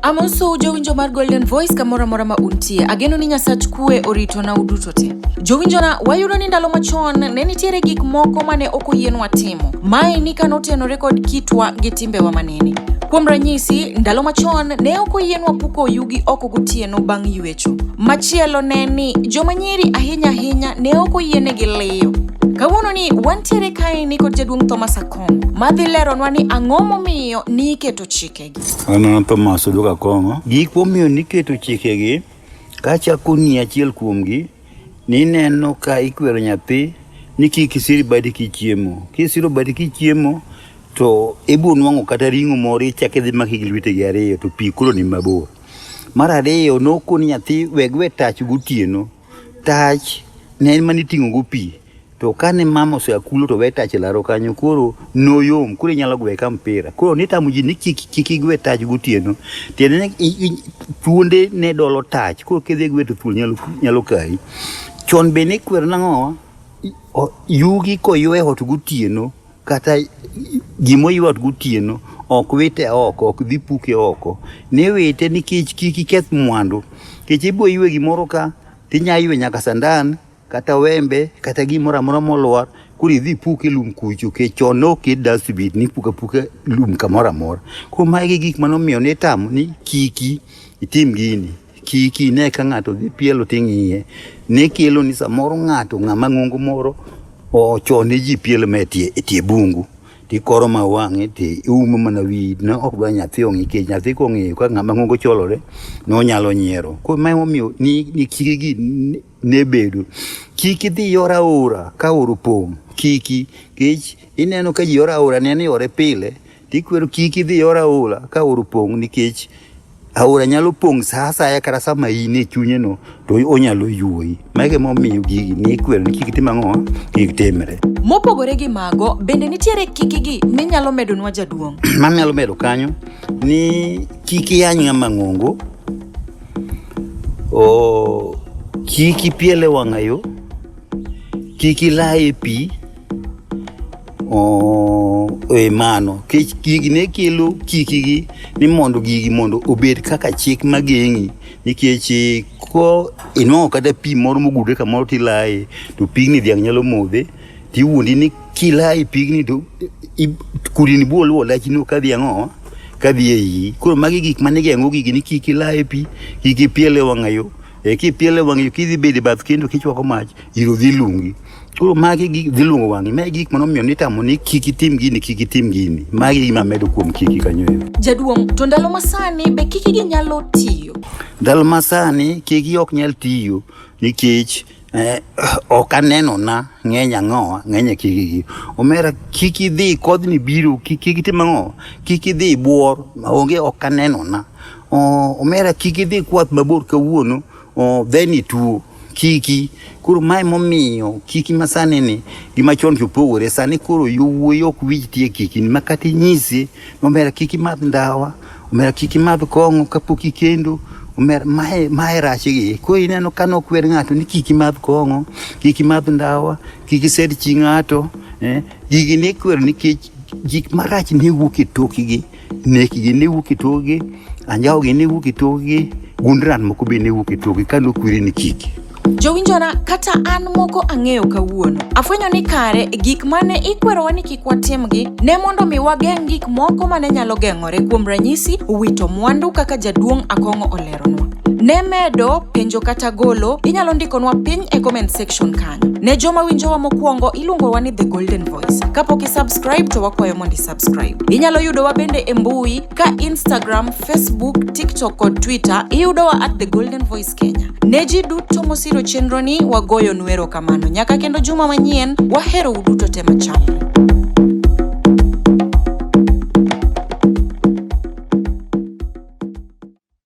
Amoso jowinjo mar Golden Voice kamoro amora ma untie. Ageno ni Nyasach kue orito na uduto te. Jowinjona, wayudo ni ndalo machon ne nitiere gik moko mane ok oyienwa timo. Mae ni ka notenore kod kitwa gi timbewa manene. Kuom ranyisi, ndalo machon ne ok oyienwa puko oyugi oko gotieno bang' yuecho. Machielo ne ni joma nyiri ahinya ahinya ne ok oyienegi liyo. Kawuono ni wantiere kae ni kod jaduong' Thomas Akwa Akong'o ma dhi leronwa ni ang'o momiyo niketo chikegi. An an Thomas Oduok Akong'o. Gik momiyo niketo chikegi kachako ni achiel kuomgi nineno ka ikwero nyathi ni kik isiri badi kichiemo. Kisiro badi kichiemo to ibiro nwang'o kata ring'o moro ichak idhi maki gi lwetegi ariyo to pi koro ni mabor. Mar ariyo nokoni nyathi weg we tach gotieno. tach ne en mani ting'o go pi to kane mama osea kulo to we tach e laro kanyo koro noyom koro inyalo gwe ka mpira koro nitamo ji ni kik kik igwe tach gotieno tiende ni i- i- thuonde ne dolo tach koro kidhi gwe to thuol nyalo, nyalo kayi chon be nikwero nang'owa I- o- yugi koywe ot gotieno kata gimoywa gotieno ok wite oko ok dhi puke oko ni wite nikech kik iketh mwandu kech ibo ywe gimoro ka tinya ywe nyaka sandan kata wembe kata gimoro amora molwar koro idhi puke lum kucho kech chon ok e dustbin ni puka puka lum kamoro amora koro magi gik manomiyo nitamo ni kiki itim gini Kik ine ka ng'ato dhi pielo ting'iye. Ne kielo ni samoro ng'ato ng'ama ng'ongo moro ochone ji pielo me tie, e tie bungu tikoro ma wang'e ti iumo mana wiyi ne ok dwa nyathi ong'i kech nyathi kong'eyo ka ng'ama ng'ongo cholore nonyalo nyiero koro ma emomiyo ni, ni kikigi ne- ne bedo kik idhi yor aora ka oro pong' kiki kech ineno ka ji oro aora ne ni ore pile Tikwero kik idhi yor aora ka aora opong' nikech aora nyalo pong' sa asaya kata sama in e chunye no to onyalo yuoyi. Mago emomiyo gigi nikwero ni kik itim ang'o? Kik timre. Mopogore gi mago, bende nitiere kikigi minyalo medonwa jaduong'? Manyalo medo kanyo ni kik iyany ng'ama ng'ongo, o kik ipiel e wang'ayo, kik ilaa e pi. e mano kech gigi ne kelo chikigi ni mondo gigi mondo obed kaka chik mageng'i nikech ko inwang'o kata pi moro mogudre kamoro tilaye to pigni dhiang' nyalo modhe tiwuondi ni kilaye pigni to kudini biro luwo lachino ka dhiang' oa ka dhi e iyi koro magi gik mane geng'o gigi ni kik ilaye pi kik ipiele wang'ayo e kipiele wang'ayo kidhi bedo e bath kendo kichwako mach iro dhi lungi Koro magi gi dhi luongo wang'i. Magi gik mano miyo nitamo ni kik itim gini, kik itim gini. Magi e gima medo kuom kiki kanyo. Jaduong', to ndalo masani be kiki gi nyalo tiyo? Ndalo masani kiki ok nyal tiyo nikech eh, ok aneno na ng'eny ang'owa ng'eny e kiki gi. Omera kik idhi kodhni biro kik itim ang'owa kik idhi buor onge ok aneno na. Omera kik idhi kwath mabor kawuono. Oh, then it will kiki koro mae momiyo kiki masani ni gi machon opogore sani koro yowuoyi ok wich tie kiki ni makati nyisi omera kiki madh ndawa omera kiki madh kong'o kapok ikendo omera mae mae rach gi koro ineno ka nokwer ng'ato ni kiki madh kong'o kiki madh ndawa kiki sed chi ng'ato eh, gigi nikwer nikech gik marach ne wuok e tokigi nekgi ne wuok e togi anjawogi ne wuok e togi gundran moko be ne wuok e togi ka nokwiri ni kiki jowinjona kata an moko ang'eyo kawuono afwenyo ni kare gik mane ikwerowa ni kik watimgi ne mondo mi wageng' gik moko mane nyalo geng'ore kuom ranyisi wito mwandu kaka jaduong' akong'o oleronwa ne medo penjo kata golo inyalo ndikonwa piny e comment section kanyo ne joma winjowa mokwongo iluongowa ni the golden voice kapok isubscribe to wakwayo mondo subscribe. Inyalo yudowa bende e mbui ka Instagram, Facebook, TikTok kod Twitter iyudowa at The Golden Voice Kenya. Ne ji duto mosiro chenroni wagoyo nwero kamano. Nyaka kendo juma manyien, wahero uduto te machal.